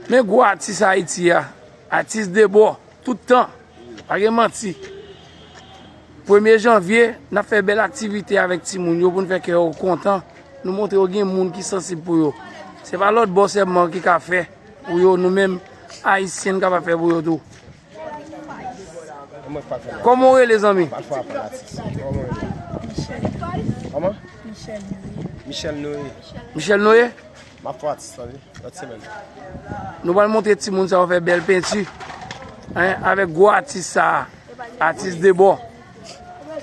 Men gwo atis Ayiti ya, atis debò, tout tan, pa gen manti. Premye janvye, nan fè bel aktivite avèk ti moun yo pou n fè kè yo kontan, nou montre yo gen moun ki sansib pou yo. Se pa lòt bò sèlman ki ka fè pou yo, nou menm Ayisyen n ka pa fè pou yo tou. Koman ou rele zanmi? Michel Noé Michel Noé? Nou pral montre ti moun sa yo fè bèl pentu Avèk gwo atis sa a Atis de bò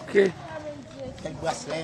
Kèk braslè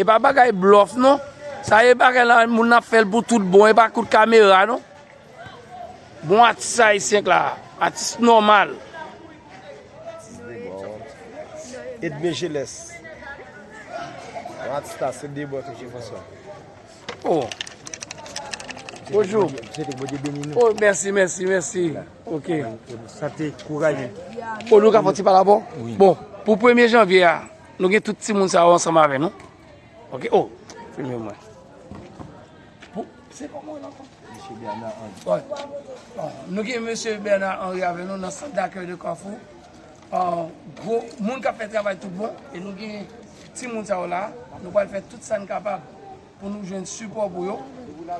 Epa bagay blof non sa ye bagay la moun nan ap fèl pou tout bon epa kout kamera non bon atis ayisyen k la atis nòmal. Edme jeles atis la se de bò toujou konsa. Oh Bonjou oh mèsi mèsi mèsi ok sante kouraje oh nou ka fè yon ti pale avèw bon pou premye janvye a. Nou gen tout timoun sa yo ansanm avè nou. Ok oh filme mwen. Se koman nan kon? Mesye Bernard Henry. Nou gen mesye Bernard Henry avè nou nan sant dakèy de Kafou. Gwo moun kap fè travay tout bon. E nou gen timoun sa yo la. Nou pral fè tout sa n kapab pou nou jwenn sipò pou yo.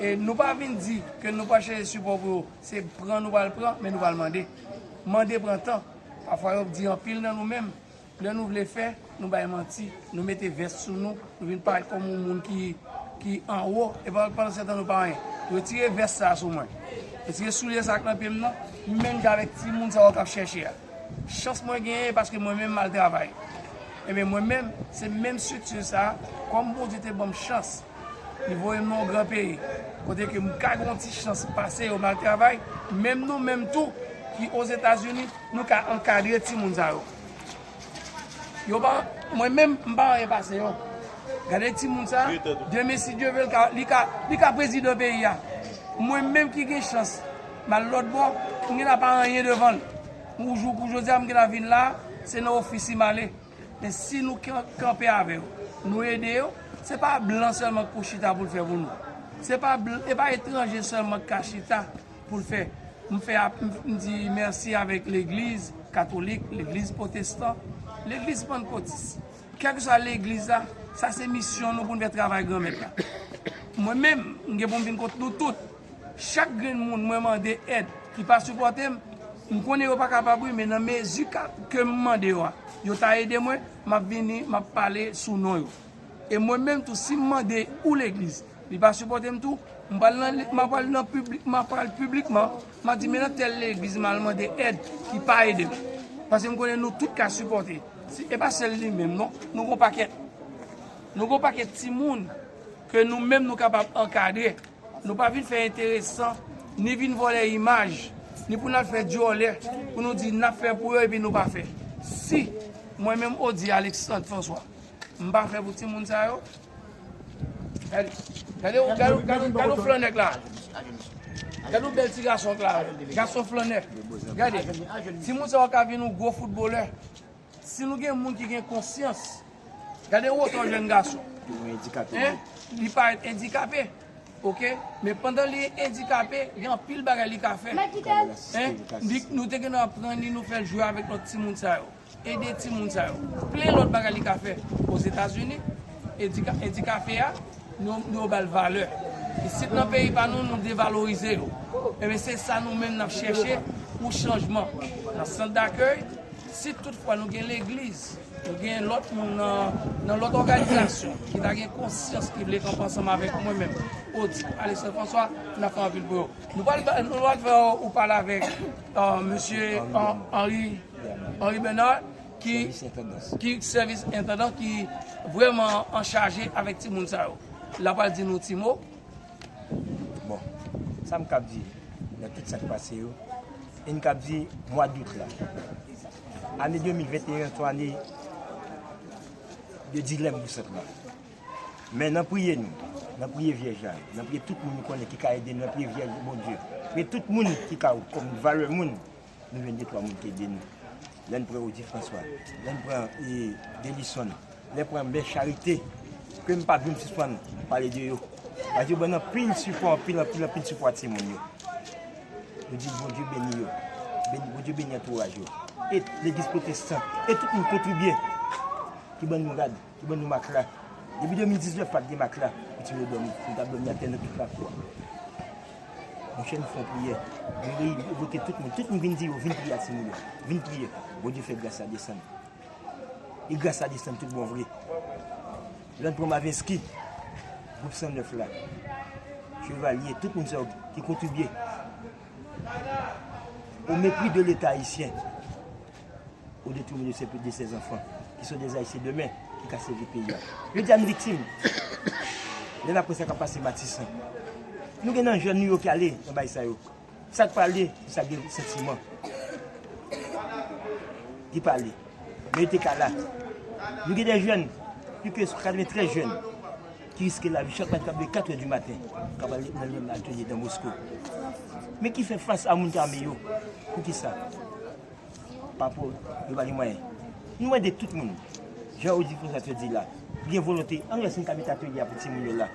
E nou pa vin di ke nou pral chèche sipò pou yo. Se pran nou pral pran men nou pral mande. Mande pran tan. Pafwa yo ap di anpil nan nou menm. Lè nou vle fè, nou bay manti, nou mete vès sou nou, nou vin parèt kòm yon moun ki anwo, e pandan setan nou pa anyen. Retire vès sa a sou mwen. Retire soulye sa a ki nan pye m nan. M menm jan avèk timoun sa yo k ap chèche a. Chans mwen genyen e paske mwen menm m al travay. Enben, mwen menm, se menm estrikti sa a, kòm Bondye te ban m chans, li voye m nan yon gran peyi, kote ke m ka gen yon ti chans pase yo, m al travay, menm nou menm tou ki Ozetazini, nou ka ankadre timoun sa yo. Yo pa, mwen menm m pa anyen pase yo. Gade timoun sa, demen si Dye vel ka, li ka, li ka prezidan peyi a. Mwen menm ki gen chans m al lòt bò, m gen la pa anyen devan l. Pou jou kou jodi a m gen la vin la, se nan ofis li m ale. Men si nou kanpe avè yo, nou ede yo, se pa blan sèlman k pou chita pou l fè pou nou. Se pa, e pa etranje sèlman k ka chita. pou l fè. M fè ap m di mèsi avèk legliz katolik, legliz potestan, legliz pannkotis. Kèlkeswa legliz la, sa se misyon nou pou n fè travay Granmèt la. Mwen menm, m gen pou m vin kot nou tout. Chak grenn moun mwen mande èd ki pa sipòte m, m konnen yo pa kapab wi men nan mezi ke m mande yo a, yo ta ede mwen, m ap vini, m ap pale sou non yo. E mwen menm tou si m mande ou legliz li pa sipòte m tou, m pral nan m ap al nan piblik m ap al piblikman m ap di men nan tèl legliz m al mande èd ki pa ede m paske m konnen nou tout ka sipòte e pa sèl li menm non nou gon pakèt nou gon pakèt timoun ke nou menm nou kapab ankadre nou pa vin fè enteresan ni vin vòlè imaj ni pou n al fè dyòlè pou nou di n ap fè pou yo epi nou pa fè si mwen menm Ody Alexandre François. M pa fè pou ti moun sa yo. Gade ou gade ou gade ou gade ou flannèk la. Gade ou bèl ti gason k la. Gason flannèk. Gade. Ti moun sa yo ka vin ou gwo foutbolè. Si nou gen moun ki gen konsyans. Gade wotò jèn gason. Hein? Li parèt endikape. Ok? Men pandan li endikape, gen anpil bagay li ka fè. Hein? Nou te gen dwa pran li nou fè l jwe avèk lòt ti moun sa yo. Ede timoun sa yo. Plen lòt bagay li ka fè ozetazini. Edikafe a, nou ba l valè. Isit nan peyi pa nou, nou devalorize yo. Enben se sa nou menm n ap chèche pou chanjman. Nan sant dakèy, si tout fwa nou gen legliz, nou gen lòt moun nan lòt òganizasyon ki ta gen konsyans ki vle kanpe ansanm avèk mwen menm, Odip, Aleksann Franswa, n ap fè anpil pou yo. Nou pral fè yon pale avèk Mesye Henry Bernard ki sèvis entandan ki vrèman an chaje avèk ti moun sa yo. La pral di nou ti mo. Bon, sa m kab di nan tout sa k pase yo, e n kab di mwa dout la. Ane 2021 an se yon ane de dilèm pou sant la. Men nan priye nou, nan priye vyèj la, nan priye tout moun nou konnen ki ka ede nou, nan priye vyèj Bondye, priye tout moun ki ka ou kòm valè moun, nou jwenn de twa moun ki ede nou. Lè n pran Odi Franswa, lè n pran e Delison, lè n pran mè Charite, ke m pa janm sispann pale de yo. Paske yo ban n anpil sipò, anpil, anpil, anpil sipò a timoun yo. Nou di Bondye beni yo, Bondye beni antouraj yo. E legliz pwotestan, e tout moun kontribye ki ban nou rad. Ki ban nou matla? Depi 2019 pat gen matla pou timoun yo dòmi. Nou tap dòmi atè nan pifra fwa. Monchè nou fè yon priyè. Nou reyini, nou vote tout moun. Tout moun vin di yo vin priye ak timoun yo. Vin priye. Bondye fè gras la desann. E gras la desann tout bon vre. Lè n pran Mavinsky, gwoup 109 la, Chevalier, tout moun sa yo ki kontribye. Au mépris de l'État Haïtien. ou de touve nou se plis de 16 anfan ki so de zayisyen demen ki ka se vi peyi a. Yo di a nou viktim. Lè na pwè sa ka pase matisan. Nou gen nan jèn nou yo ki ale nan bay sa yo. Sa ki pa ale, sa gen santiman. Ki pa ale. Men yo te ka la. Nou gen de jèn, pli ke 93 jèn, ki riske la vi chak mati kap de 4 ou di maten, kap ale nan lè nan atelier nan Moskou. Men ki fè fas a moun ki ame yo. Pou ki sa? Papo yo pa gen mwayen. Nou mande tout moun, jan Audrey François te di la, ki gen volonte, ann wè si nou ka mete atelye a pou timoun yo la.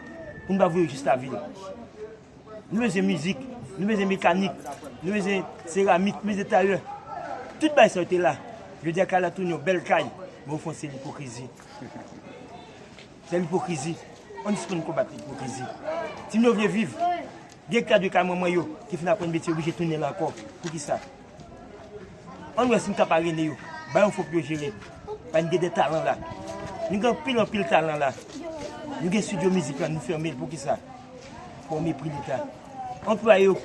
Pou nou pa voye yo jis lavil. Nou bezwen mizik, nou bezwen mekanik, nou bezwen seramik, nou bezwen tayè. Tout bagay sa yo te la. Jodi a kay la tounen yon bèl kay, men ofon se lipokrizi. Se lipokrizi. Ann sispann konbat lipokrizi. Timoun yo vle viv. Gen kay de kay manman yo ki fin aprann metye yo oblije tounen la ankò. Poukisa? Ann wè si n ka pa rele yo ba yon fo pou yo jere paske n gen de talan la. Nou gen anpil anpil talan la. Nou gen studio mizik la nou fèmen l poukisa? Pou mepri leta. Anplwaye yo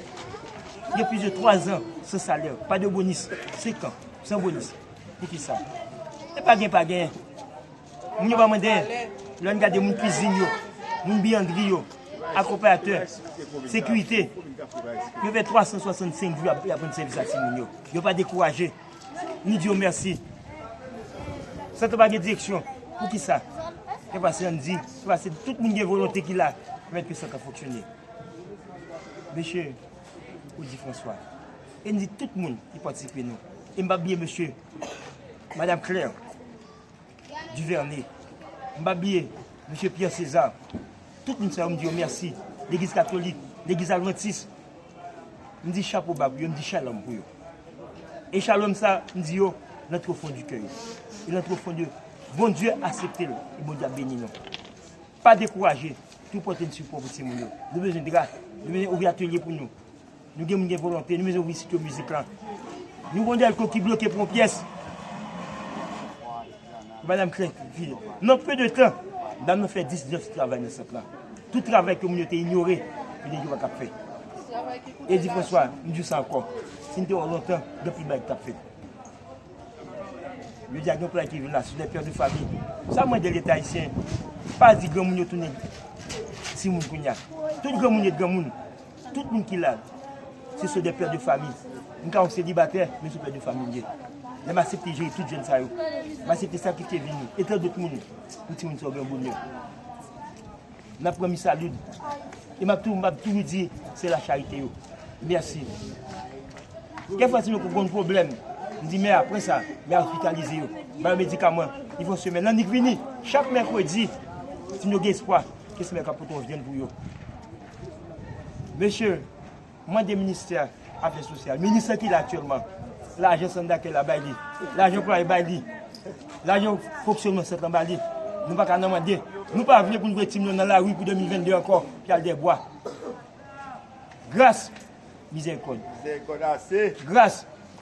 gen plis de 3 zan san salè, pa de bonis, 5 an san bonis. Poukisa? E pa gen pa gen. Moun yo pa mwen dèyè. Lè n gade moun kwizin yo, moun biyandri yo, akonpayatè, sekirite, yo fè 365 jou y ap rann sèvis a timoun yo. Yo pa dekouraje. Nou di yo mèsi. San sa pa gen direksyon. Pou ki sa? Se pase an di, se pase tout moun gen volonte ki la mèt ke sa ka fonksyone. Mesye, ou di Franswa. E n di tout moun ki patisipe nou. E m pa bliye mesye, Madam Claire, Duvernay, m pa bliye Mesye Pierre César, tout moun sa yo m di yo mèsi, legliz katolik, legliz advantis, m di chapo ba pou yo, m di shalom pou yo. E shalom sa m di yo lan two fon di kè yo, e lan two fon de Bondye asepte l, e Bondye ap beni nou. Pa dekouraje, tou pote n sipò pou timoun yo. Nou bezwen dra, nou bezwen ouvri atelye pou nou. Nou gen moun gen volonte, nou bezwen ouvri studio mizik lan. Nou gen yon dèlko ki bloke pou yon pyès. Madam Craint di, nan peu de tan, dam nan fè 10 jès travay nan sant lan. Tout travay ke moun yo te inyore, yo te di yo pa kab fè. E di François, m di w sa ankò, si n te wè w lontan, gen anpil bagay ki tap fèt. Jodi a gen yon play ki vin la sou de père de famille. Sa m mande leta ayisyen, pa di granmoun yo tounen timoun kounya. Tout granmoun yo t granmoun. Tout moun ki la, se sou de pè de fami. M ka yon selibatè, men sou pè de fami m ye. Lè m asepte jere tout jèn sa yo, m asepte sakrifye vi m, e tandot moun, pou timoun sa yo gen bonè. M ap pran mi salud. E m ap tou, m ap toujou di, se la charite yo. Mèsi. Kèk fwa timoun yo konn pwoblèm, m di mè apre sa, mè ospitalize yo, ba yo medikaman, li fon semèn. Annik vini, chak mèkredi, timoun yo gen espwa, ke semèn ka pote yon vyann pou yo. Mesye, mande ministè afè sosyal, minis lan ki la aktyèlman, lajan sant dakèy la bay li, lajan anplwaye bay li, lajan fonksyònman sant lan bay li, nou pa ka nan mande, nou pa vle pou n voye timoun yo nan lari pou 2022 ankò, pou y al dèbwa. Gras! Mizèrikòd! Mizèrikòd ase! Gras!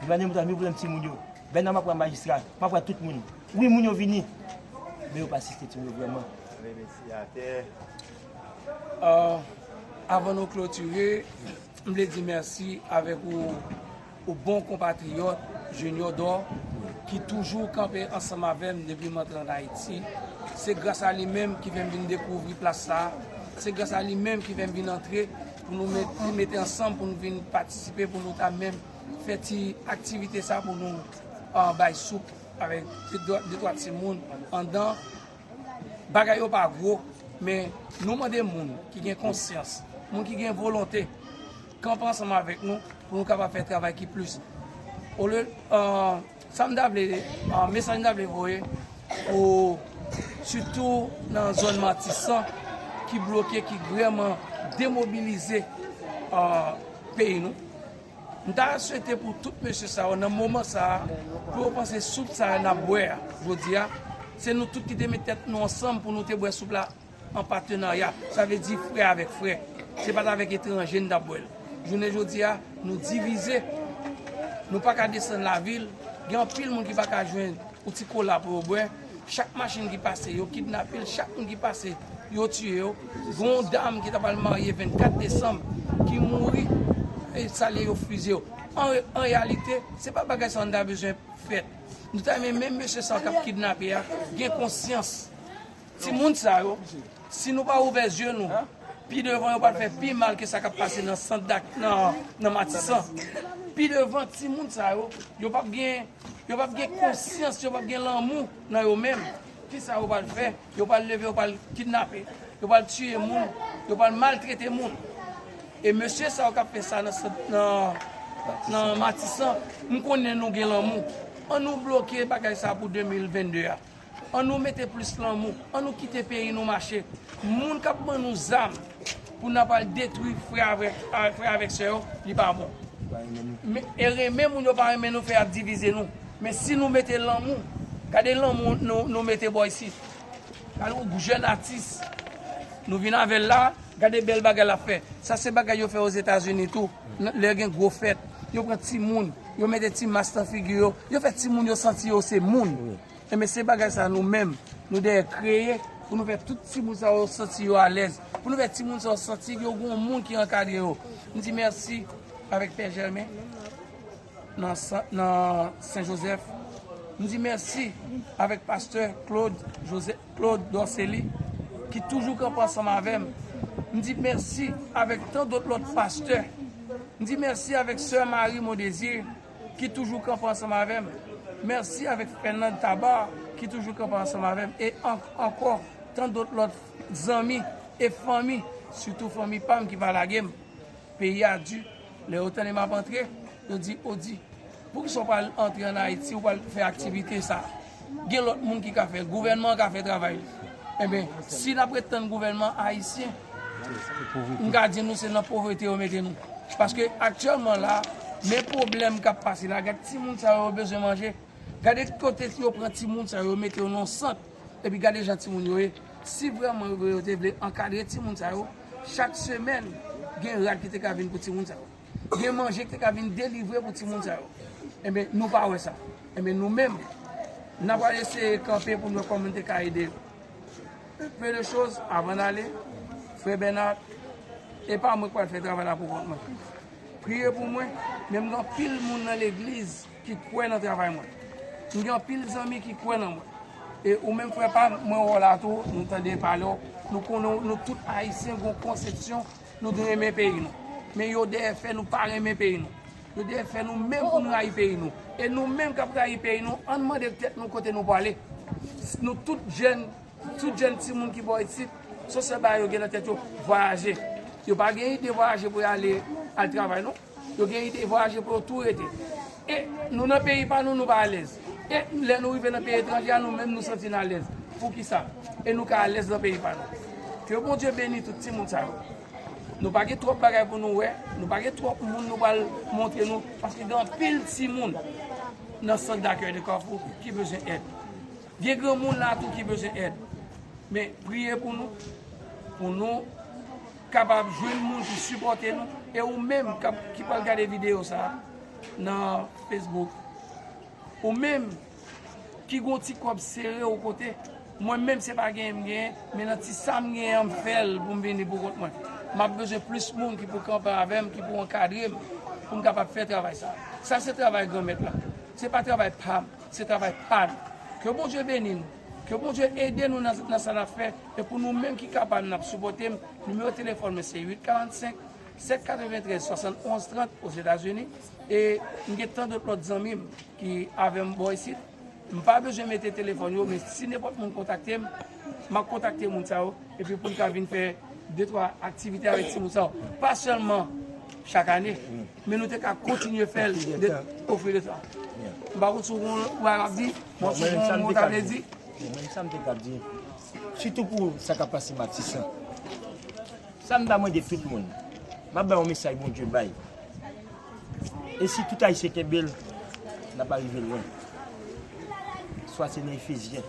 Duvalier mwen ta vini pran ti moun yo. Bèna map pran majistra, map pran tout moun. Wi moun yo vini. Men yo pa asiste ti moun yo vrèman. Mwen mesi atè. Avan nou klotire, m vle di mèsi avèk ou ou bon konpatriyòt Junior Dò ki toujou kanpe ansanm avè m depi m antre an Ayiti. Se gras a li menm ki fè m vin dekouvri plas sa a. Se gras a li menm ki fè m vin antre. Pou nou tou mete ansanm pou nou vin patisipe pou nou ta menm fè ti aktivite sa pou nou bay soup avèk de twa ti moun andan. Bagay yo pa gwo, men nou mande moun ki gen konsyans, moun ki gen volonte, kanpe ansanm avèk nou pou nou kapab fè travay ki plis. Sa m ta vle, mesaj m ta vle voye pou sitou nan zòn Matisan ki bloke, ki vreman demobilize peyi nou. M ta swete pou tout mesye sa yo nan moman sa a, pou yo panse soup sa a n ap bwè a jodi a, se nou tout ki te met tèt nou ansanm pou nou te bwè soup la. an patenarya, sa vle di frè avèk frè. Se pa t avèk etranje n t ap bwè l. Jounen jodi a, nou divize, nou pa ka desann lavil, gen anpil moun ki pa ka jwenn yon ti kola pou yo bwè. Chak machin ki pase, yo kidnape l, chak moun ki pase, yo tiye yo. Gen yon dam ki t apral marye 24 desanm ki mouri, salye yo fiziye yo. An reyalite, se pa bagay sa a nou ta bezwen fèt. Nou ta renmen menm mesye sa yo k ap kidnape a gen konsyans. Ti moun sa yo, si nou pa ouvè zye nou, pi devan yo pral fè pi mal ke sa kap pase nan sant dak nan matisan. Pi devan ti moun sa yo, yo pap gen yo pap gen konsyans, yo pap gen lanmou nan yo menm. Ki sa yo pral fè? Yo pral leve, yo pral kidnape, yo pral tiye moun, yo pral maltrete moun. E mesye sa yo kap fè sa nan sant nan matisan, m konnen nou gen lanmou. An nou bloke bagay sa pou 2022 a. An nou mete plis lanmou, an nou kite peyi nou mache. Moun k ap ban nou zam pou n ap al detwi frè avèk sè yo, li pa bon. E renmen moun yo pa renmen nou fè ap divize nou. Men si nou mete lanmou, gade lanmou nou mete bò isit. Gade yon jèn atis nou vin avè l la, gade bèl bagay l ap fè. Sa se bagay yo fè ozetazini tou, lè gen gwo fèt. Yo pran timoun, yo mete ti mas nan figi yo, yo fè timoun yo santi yo se moun. Enben se bagay sa nou menm nou dèyè kreye pou nou fè tout timoun sa yo santi yo alèz, pou nou fè timoun sa yo santi yo gen yon moun ki ankadre yo. M di mèsi avèk Pè Jèmen nan Sen Jozèf, m di mèsi avèk Pastè Klod Dòseli ki toujou kanpe ansanm avè m, m di mèsi avèk tan dòt lòt pastè, m di mèsi avèk Sè Mari Mondezir. ki toujou kanpe ansanm avèm merci avèk Fernand Tabar ki toujou kanpe ansanm avèm e ank ankò tant dot lòt zanmi e fanmi sitou fanmi pam ki pa lagem peyi a du lè yo tande map antre yo di ou di poukisa ou pa antre an Haïti ou pa al fè aktivite sa. gen lòt moun ki ka fèl, gouvènman an ka fè travay li. Enben, si n ap ret tann gouvènman ayisyen, m ka di nou se nan povrete yo mete nou. Paske aktyèlman la, men pwoblèm k ap pase la, gade timoun sa yo, yo bezwen manje, gade kote yo pran timoun sa yo, yo mete yo nan yon sant, epi gade jan timoun yo ye. Si vrèman yo te vle ankadre timoun sa yo, chak semèn gen rad ki te ka vin pou timoun sa yo. Gen manje ki te ka vin delivre pou timoun sa yo. Enben, nou pa wè sa. Enben, nou menm, nan pral eseye kanpe pou nou wè kòman nou te ka ede yo. Un peu de chose, avan n ale, Frè Bernard, e pa mwen ki pral fè travay la pou kont mwen. Priye pou mwen, men m gen anpil moun nan legliz ki kwè nan travay mwen. M gen anpil zanmi ki kwè nan mwen. E ou menm frè pa m, mwen wè w la tou, nou tande pale w, nou konnen w, nou tout Ayisyen gen yon konsepsyon Nou te renmen peyi nou. Men yo dèyè fè nou pa renmen peyi nou. Yo dèyè fè nou menm pou nou rayi peyi nou. E nou menm k ap rayi peyi nou, an n mande tèt nou kote nou prale. Nou tout jèn, tout jèn timoun ki bò isit, se sèl bagay yo gen nan tèt yo, vwayaje. Yo pa gen ide vwayaje pou y ale al travay non. Yo gen ide vwayaje pou yo tou rete. E nou nan peyi pa nou, nou pa alèz. E lè nou rive nan peyi etranje a, nou menm nou santi n alèz. Poukisa? E nou ka alèz nan peyi pa nou. Ke Bondye beni tout timoun sa yo. Nou pa gen twòp bagay pou nou wè. Nou pa gen twòp moun nou pral montre nou. Paske gen anpil timoun nan sant dakèy de Kafou ki bezwen èd. Gen granmoun la tou ki bezwen èd. Men priye pou nou. Pou nou. kapab jwenn moun ki sipòte nou e ou menm kap ki pral gade video sa nan Facebook ou menm ki gon ti kòb sere ou kote mwen menm se pa genyen m genyen men nan ti sa m genyen an m fèl pou m vini pou kont mwen map bezwen plis moun ki pou kanpe avè m ki pou ankadre m pou m kapab fè travay sa sa se travay granmèt la se pa travay pa m se travay pa nou ke Bondye beni nou. Ke Bondye ede nou nan sa nap fè e pou nou menm ki kapab nap sipòtem nimewo telefòn mwen se 8 45 793 71 30 ozetazini e m gen tan dot lòt zanmim ki avèm bò isit m pa bezwen mete telefòn yo men si nenpòt moun kontaktem map kontakte moun sa yo epi poun ka vin fè de twa aktivite avèk timoun sa yo pa sèlman chak ane. Men nou te ka kontinye fè l de au fil de tan. M pa konn si w konn wè a m ap di, bon si w konn wè mot la vle di. Bon men sa m te ka di, sitou pou sa k ap pase Matisan. Sa m ta mande tout moun, m ap bay yon mesaj Bondye bay. E si tout Ayisyen kenbe l, n ap arive lwen. Swa se nan Efezyen.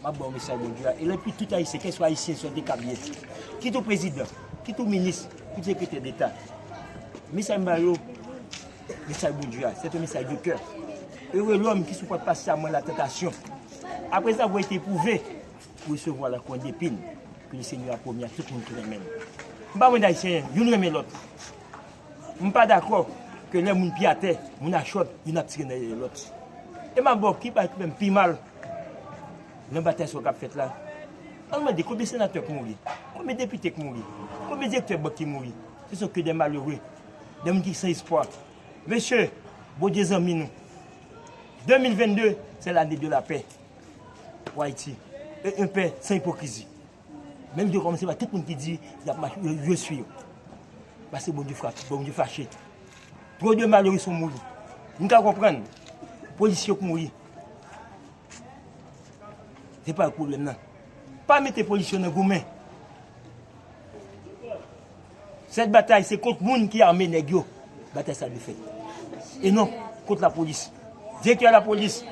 Map baw mesaj Bondye a e lè pou tout ayisyen kèswa ayisyen sòt de kap yèsi kit ou prezidan kit ou minis kit sekretè deta mesaj m bayo mesaj Bondye a sete mesaj de kè ere lòm ki sou pòt pas sa mwen la tantasyon apre sa vwe te pouve pou se vwa la konde pin ke le senyè a pwomye a tout moun ki renmen m m pa mande ayisyen youn renmen lòt. M pa dakò ke lè moun pi atè, moun a chòd, youn ap tire nan dèyè lòt. E m ap ba w ki bagay ki menm pi mal nan batay sa yo k ap fèt la. An n mande konbyen senatè k mouri? Konbyen depite k mouri? Konbyen direktè bank ki mouri? Se son ke dè malere, dè moun ki san espwa. Mesye, Bondye zanmi nou. 2022, se lane de lapè pou Ayiti. E yon pè san ipokrizi. Menm Dieu komanse bay tout moun ki di yap mache yo yo swi yo. Paske Bondye frap, Bondye fache. Tro de malere son mouri. M ka konprann polis yo k mouri. Se pa yo k pwoblèm nan. Pa mete polis yo nan goumen. Sèt batay se kont moun ki ame nèg yo. Batay sa dwe fèt. E non kont la polis. Direktè la polis,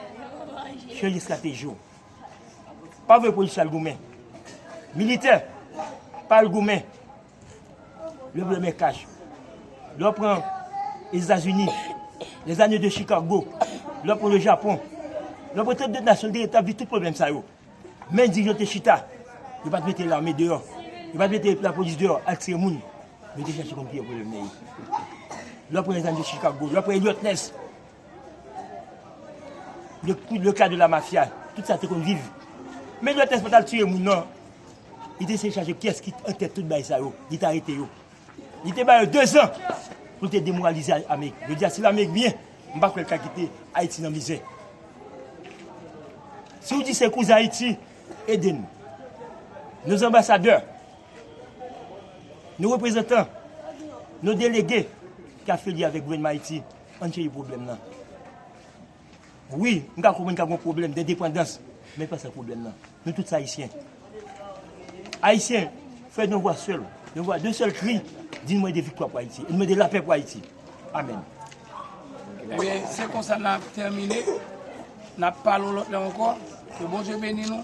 chanje strateji w. pa vle polisye al goumen. Militè, pa al goumen. Lè vle men kaj. Lè w pran Etazini, les années de Chicago, lè w pran le Japon, lè w pran tout de nasyon ki tabli tout pwoblèm sa yo. Men di yo te chita, yo pa te mete lame deyò, yo pa te mete la polis deyò al tire moun. Yo te chache konn ki yo pwoblèm nan ye. Lè w pran les années de Chicago, lè w pran Eliot Ness. Le coup le cas de la mafia tout sa te konn viv men jwèt les patal tiye moun nan li te se chaje kyes ki an tèt tout bay sa yo li ta rete yo li te bayo 2 zan pou te demoralize amerik yo dia si la amerik byen m pa kwèl ka kite ayiti nan mizè si ou di se kouz ayiti ede n nou zanbasadè nou reprezantan nou delege ki afilye avèk gouvenman ayiti Ann chèche pwoblèm nan. Wi, m ka konprann ka gen yon pwoblèm dendepandans, men pa sa k pwoblèm nan. Nou tout se Ayisyen. Ayisyen, fè yon vwa sèl, yon vwa de sèl kri, di n mande viktwa pou Ayiti, n mande lapè pou Ayiti. Amèn. Ebyen, se konsa n ap tèmine. N ap pale yon lòt lè ankò. Ke Bondye beni nou.